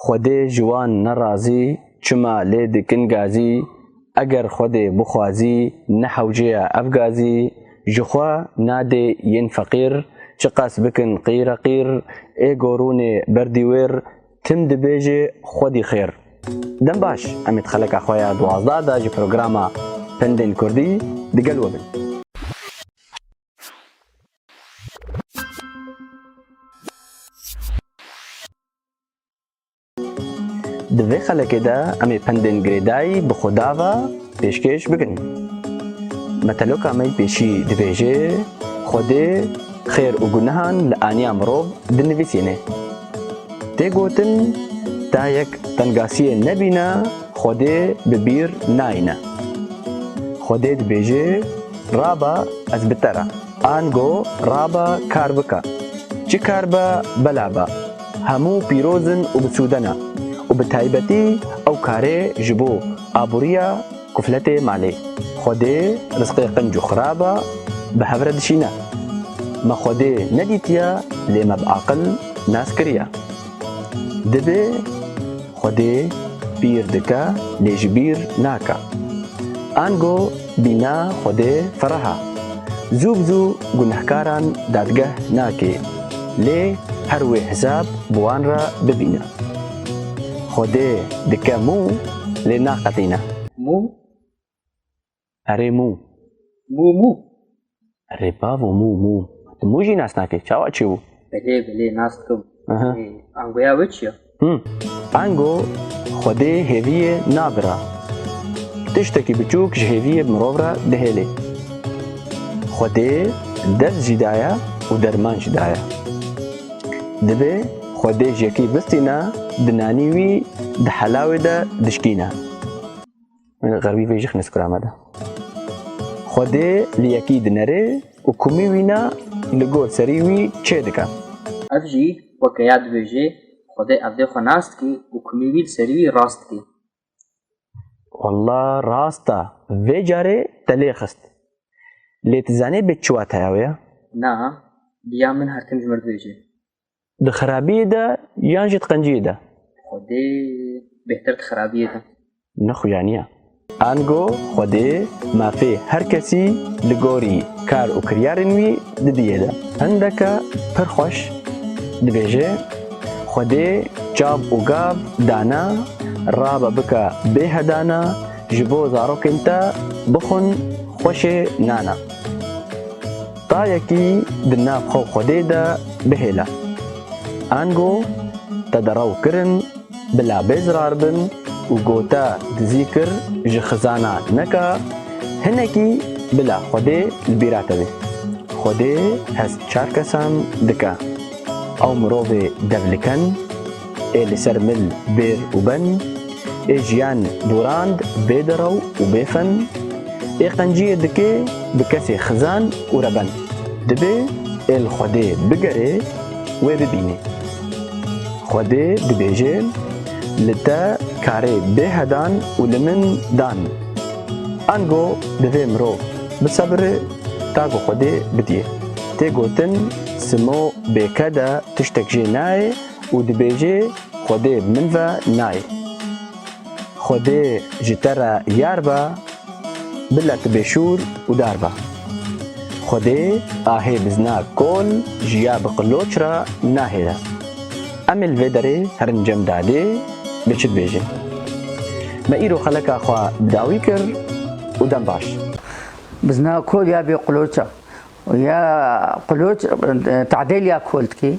Xwedê ji wan nerazî, çima lê dikin gazî, eger Xwedê bixwazî, nehewcêya ev gazî, ji xwe nadê yên feqîr, çiqas bikin qîreqîr, ê gorûnê ber dîwêr, tim dibêjê Xwedî xêr. Dem baş, em ê di xeleka xwe ya duwazdeh de ji programa Pendên Kurdî digel we bin. Di vê xelekê de em ê pendên girêdayî bi Xuda ve pêşkêş bikin. Meteloka me pêşî dibêje, Xwedê xêr û gunehan li aniya mirov dinivîsîne. Tê gotin ta yek tengasiyê nebîne Xwedê bi bîr nayîne. Xwedê dibêje, Raba ez bi te re. Ango raba kar bike. Çi kar be bela be. Hemû pîroz in û bi sûde ne û bi taybetî ew karê ji bo aboriya kufletê malê Xwedê rizqê qinc û xirab e bi hev re dişîne. Me Xwedê nedîtiye lê me bi aqil nas kiriye. Divê Xwedê bîr dike lê ji bîr nake. Ango bîna Xwedê fereh e. Zû bi zû gunehkaran dadgeh nake lê her wê hesab bi wan re bibîne. Xwedê dike mû lê naqetîne. Mû Erê mû. Mû mû. Erê bavo mû mû. Tu mû jî nas nakî. Çawa çi bû? Belê belê nas dikim. Aha. Ê, Angoya we çi ye? Hım. Ango xwedê hêviyê nabira. Tiştekî biçûk ji hêviyê bi mirov re dihêlê. Xwedê ders jî daye û derman jî daye. Dibê xwedê ji yekî bistîne, di nanî wî di helawê de dişkîne. Min xerwî vê jixnê skura me de. Xwedê li yekî dinerê û kumî wîna li gor serî wî çê dike. Ev jî weke ya dibêjê, Xwedê evdê xwe nas dike û kumî wî li serî wî rast dike. Walla rast e, vê carê te lê xist. Lê tu zanî bê çi wateya wê ye? Na, bi ya min her tim ji mir dibêje. Di xerabiyê de yan jî di qenciyê de? Xwedê bêhtir di xerabiyê de. Nexuyaniya. Ango Xwedê mafê her kesî li gorî kar û kiryarên wî didiyê de. Hindeke pir xweş dibêje, Xwedê çav û gav dane, rabe bike bê hedane, ji bo zarokên te bixwin xweşê nane. Tayekî di nav xwe û Xwedê de bihêle. Ango te di rew kirin bila bê zirar bin û go te dizî kir ji xizana neka hinekî bila Xwedê li bîra te bê. Xwedê hest çar kesan dike. Ew mirovê devliken. ê li ser mil bêr û ben, ê jiyan dorand bê derew û bê fen, ê qenciyê dikê bi kesê xizan û reben, dibê ê li Xwedê bigerê wê bibînê. Xwedê dibêje, Li te karê bê hedan û li min dan. Ango divê mirov bisebire ta ku Xwedê bidîye. Tê gotin simo bê kede tiştek jê nayê, Û dibêjê Xwedê bi min ve nayê. Xwedê ji te re yar be, bile tu bêşûr û dar be. Xwedê ahê bizna kol ji ya bi qiloç re nahêre. Em ê li vê derê herin cem dadê bi çi dibêjin. Me îro xeleka xwe bi dawî kir û dem baş. Bizna kol ya bê qiloç e. Ya qiloç tadêl ya kol dike.